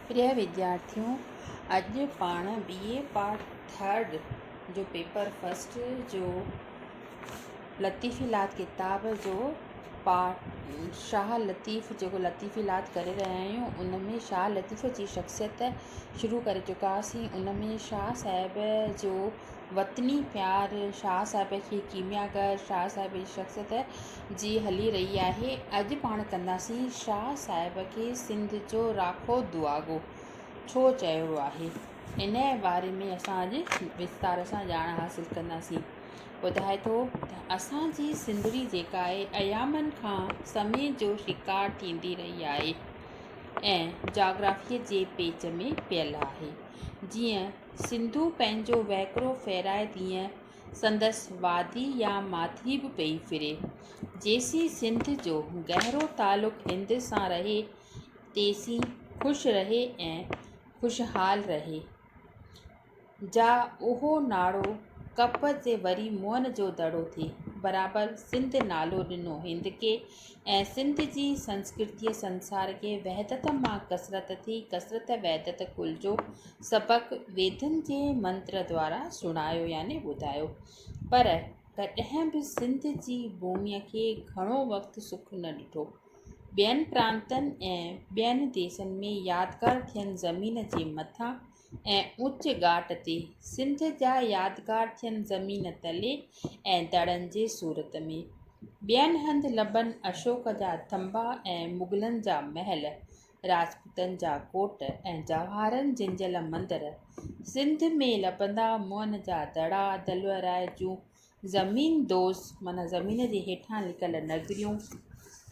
پريا وديارٿيو اڄ پاڻ بي اي پارٽ ٿرڊ جو پيپر فرسٽ جو لطيفي لات ڪتاب جو پارٽ شاھ لطيف جيڪو لطيفي لات ڪري رهيا آهيون ان ۾ شاھ لطيف جي شخصيت شروع ڪري چڪاسين ان ۾ شاھ صاحب جو وطني پيار شاھ صاحب کي ڪيمياگر شاھ صاحب جي شخصيت جي هلي رهي آهي، اڄ پاڻ ڪنداسين شاهه صاحب کي سنڌ جو راکو دعاگو ڇو چيو آهي، انهيء باري ۾ اسان اڄ وستار سان ڄاڻ حاصل ڪنداسين. ٻڌائي ٿو ته اسان جي سنڌڙي جيڪا آهي، ايامن کان سمي جو شڪار ٿيندي رهي آهي ۽ جاگرافيء جي پيچ ۾ پيل آهي. جيئن سنڌو پنهنجو وهڪرو ڦيرائي تيئن سندس وادي يا ماٿري به پئي ڦري. جيسين سنڌ جو گهرو تعلق هند سان رهي، تيسين خوش رهي ۽ خوشحال رهي. جا اهو ناڙو ڪپ تي وري موهن جو دڙو ٿئي. برابر سنڌ نالو ڏنو هند کي ۽ سنڌ جي سنسڪرتيء سنسار کي وحدت مان ڪثرت ٿي ڪثرت وحدت ڪل جو سبق ويدن جي منتر دوارا سڻايو يعني ٻڌايو پر ڪڏهن به سنڌ جي ڀوميء کي گهڻو وقت سک نه ڏٺو ٻين پرانتن ۽ ٻين ديسن ۾ يادگار ٿين زمين جي مٿان ۽ اوچ ڳاٽ تي سنڌ جا يادگار ٿين زمين تلي ۽ دڙن جي صورت ۾. ٻين هنڌ لبن اشوڪ جا ٿنڀا ۽ مغلن جا محل، راجپوتن جا ڪوٽ ۽ جواهرن جنجهيل مندر. سنڌ ۾ لبندا موهن جا دڙا، دلوراء جون زمين دوز معنيٰ زمين جي هيٺان لڪل نگريون،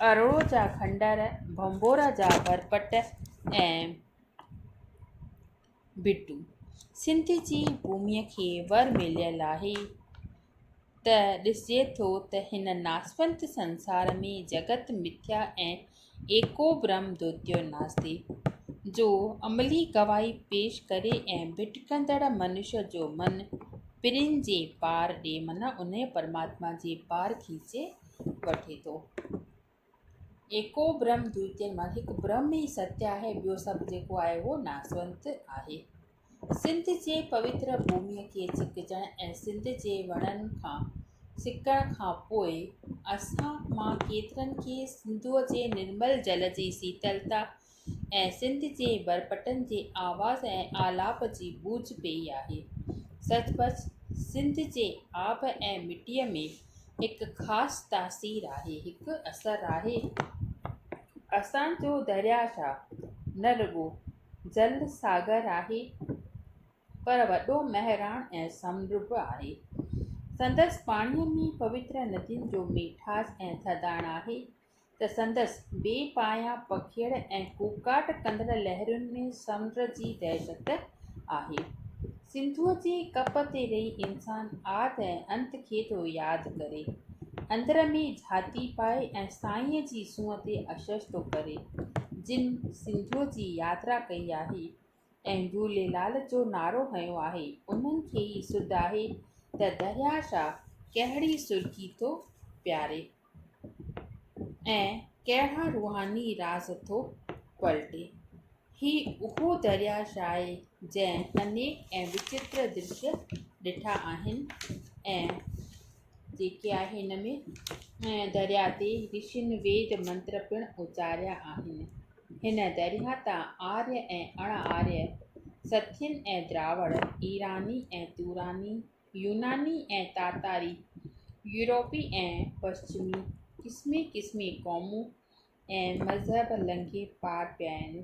اروڙو جا کنڊر، ڀنڀورا جا ڀرپٽ ۽ ڀٽو سنڌ جي ڀومي کي ور مليل آهي ته ڏسجي ٿو ته هن ناسوت سنسار ۾ جڳت مٿيا ۽ ايڪو برهم دوتيو ناستي جو عملي گواهي پيش ڪري ۽ ڀٽڪندڙ منشيٰ جو من پرين جي پار ڏي معنيٰ انهيء پرماتما جي پار کيچي وٺي ٿو ايڪو برهم دوئتين مان هڪ برهم ئي ستيا آهي، ٻيو سڀ جيڪو آهي اهو ناسونت آهي. سنڌ جي پوتر ڀومي کي ڇڪجڻ ۽ سنڌ جي وڻن کان سڪڻ کان پوء اسان مان ڪيترن کي سنڌوء جي نرمل جل جي سيتلتا ۽ سنڌ جي برپٽن جي آواز ۽ آلاپ جي بوج پيئي آهي. سچ پچ سنڌ جي آب ۽ مٽيء ۾ هڪ خاص تاثير آهي، هڪ اثر آهي. اسان جو درياهه شاهه نه رڳو جل ساگر آهي پر وڏو مهراڻ ۽ سمنڊ به آهي. سندس پاڻيء ۾ پوتر ندين جو ميٺاس ۽ ٿڌاڻ آهي. ته سندس بي پايان پکيڙ ۽ ڪوڪاٽ ڪندڙ لهرين ۾ سمنڊ جي دهشت آهي. سنڌوء جي ڪپ تي رهي انسان آد ۽ انت کي ٿو ياد ڪري. اندر ۾ جهاتي پائي ۽ سائينء جي سونهن تي اشش ٿو ڪري. جن سنڌوء جي ياترا ڪئي آهي. ۽ جهوليلال جو نعرو هنيو آهي، انهن کي ئي سڌ آهي ته درياهه شاهه ڪهڙي سرڪي ٿو پياري ۽ ڪهڙا روحاني راز ٿو پلٽي. هي اهو درياهه شاهه آهي جنهن انيڪ ۽ وچتر درشي ڏٺا آهن ۽ جيڪي آهي هن ۾ ۽ درياء تي رشين ويد منتر پڻ اچاريا آهن هن درياء تان آريا ۽ اڻ آريا سٿين ۽ دراوڙ ايراني ۽ توراني يوناني ۽ تاتاري يوروپي ۽ پشچمي قسمي قسمي قومون ۽ مذهب لنگهي پار پيا آهن.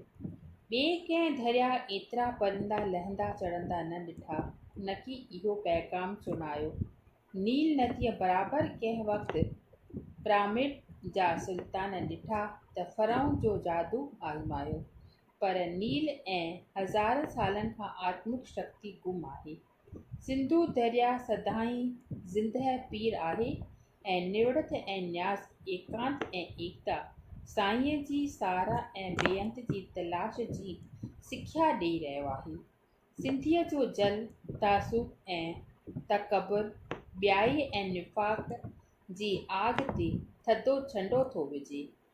ٻئي ڪنهن ڌريا ايترا پرندا لهندا چڙهندا نه ڏٺا. نڪي اهو پيغام سڻايو. نيل نديء برابر ڪنهن وقت پرامڊ جا سلطان ڏٺا ته فرعون جو جادو آزمايو. پر نيل ۽ هزارن سالن کان آتمڪ شڪتي گم آهي. سنڌو دريا سدائين زندهه پير آهي ۽ نوڙت ۽ نياز ايڪانت ۽ ايڪتا سائينء جي ساراهه ۽ بيانت جي تلاش جي سکيا ڏئي رهيو آهي. سنڌيء جو جل، تعصب ۽ تڪبر، ٻيائي ۽ نفاق جي آڳ تي ٿڌو ڇنڊو ٿو وجهي.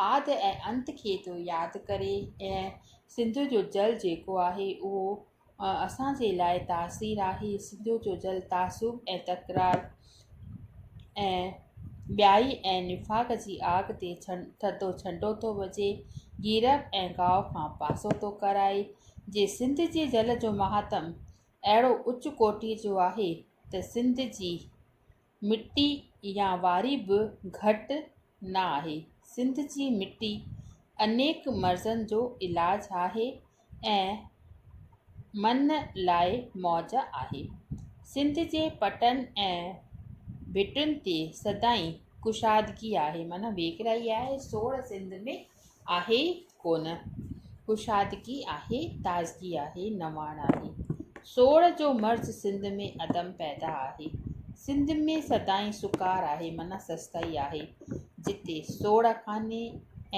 آد ۽ انت کي ٿو ياد ڪري ۽ سنڌو جو جل جيڪو آهي اهو اسان جي لاء تاثير آهي سنڌو جو جل تعصب ۽ تڪرار ۽ ٻيائي ۽ نفاق جي آگ تي ڇن ٿڌو ڇنڊو ٿو وجهي جيرڪ ۽ گاهه کان پاسو ٿو ڪرائي جي سنڌ جي جل جو مهاتم اهڙو اچ ڪوٽي جو آهي ته سنڌ جي مٽي يا واري به گهٽ نه آهي. سنڌ جي مٽي انيڪ مرضن جو علاج آهي ۽ من لاء موج آهي. سنڌ جي پٽن ۽ ڀٽن تي سدائين ڪشادگي آهي معنيٰ ويڪرائي آهي سوڙ سنڌ ۾. آهي ڪونه، ڪشادگي آهي، تازگي آهي، نواڻ آهي. سوڙهه جو مرض سنڌ ۾ عدم پيدا آهي. سنڌ ۾ سدائين سڪار آهي معنيٰ سستائي آهي. جتي سوڙهه ڪانهي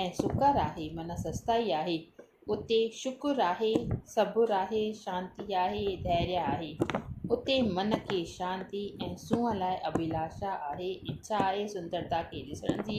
۽ سڪر آهي معنيٰ سستائي آهي، اتي شڪر آهي، صبر آهي، شانتي آهي، ڌيريا آهي. اتي من کي شانتي ۽ سونهن لاء اڀيلاشا آهي، اڇا آهي سندرتا کي ڏسڻ جي.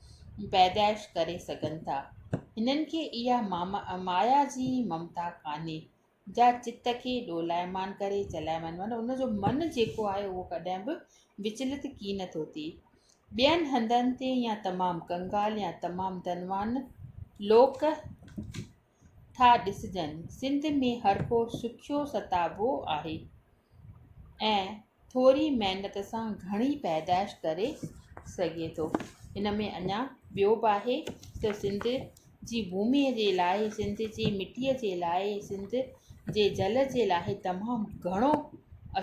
پيدائش ڪري سگهن ٿا. هنن کي اها مايا جي ممتا ڪانهي، جا چت کي ڏولائمان ڪري چلائيمان معنيٰ ان جو من جيڪو آهي اهو ڪڏهن به وچلت ڪي نه ٿو ٿئي. ٻين هنڌن تي يا تمام ڪنگال يا تمام ڌنوان لوڪ ٿا ڏسجن. سنڌ ۾ هرڪو سکيو ستابو آهي ۽ ٿوري محنت سان گهڻي پيدائش ڪري سگهي ٿو. هن ۾ اڃا ٻيو به آهي ته سنڌ جي ڀومي جي لاء، سنڌ جي مٽيء جي لاء، سنڌ جي جل جي لاء تمام گهڻو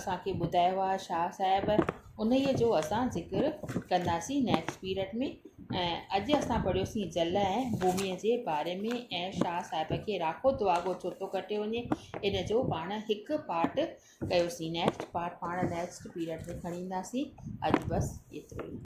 اسان کي ٻڌايو آهي شاهه صاحب. انهيء جو اسان ذڪر ڪنداسين نيڪسٽ پيرڊ ۾ ۽ اڄ اسان پڙهيوسين جل ۽ ڀومي جي باري ۾ ۽ شاهه صاحب کي راکو دعاگو ڇو ٿو ڪٽيو وڃي ان جو پاڻ هڪ پارٽ ڪيوسين نيڪسٽ پارٽ پاڻ نيڪسٽ پيرڊ ۾ کڻي اينداسين اڄ بس ايترو ئي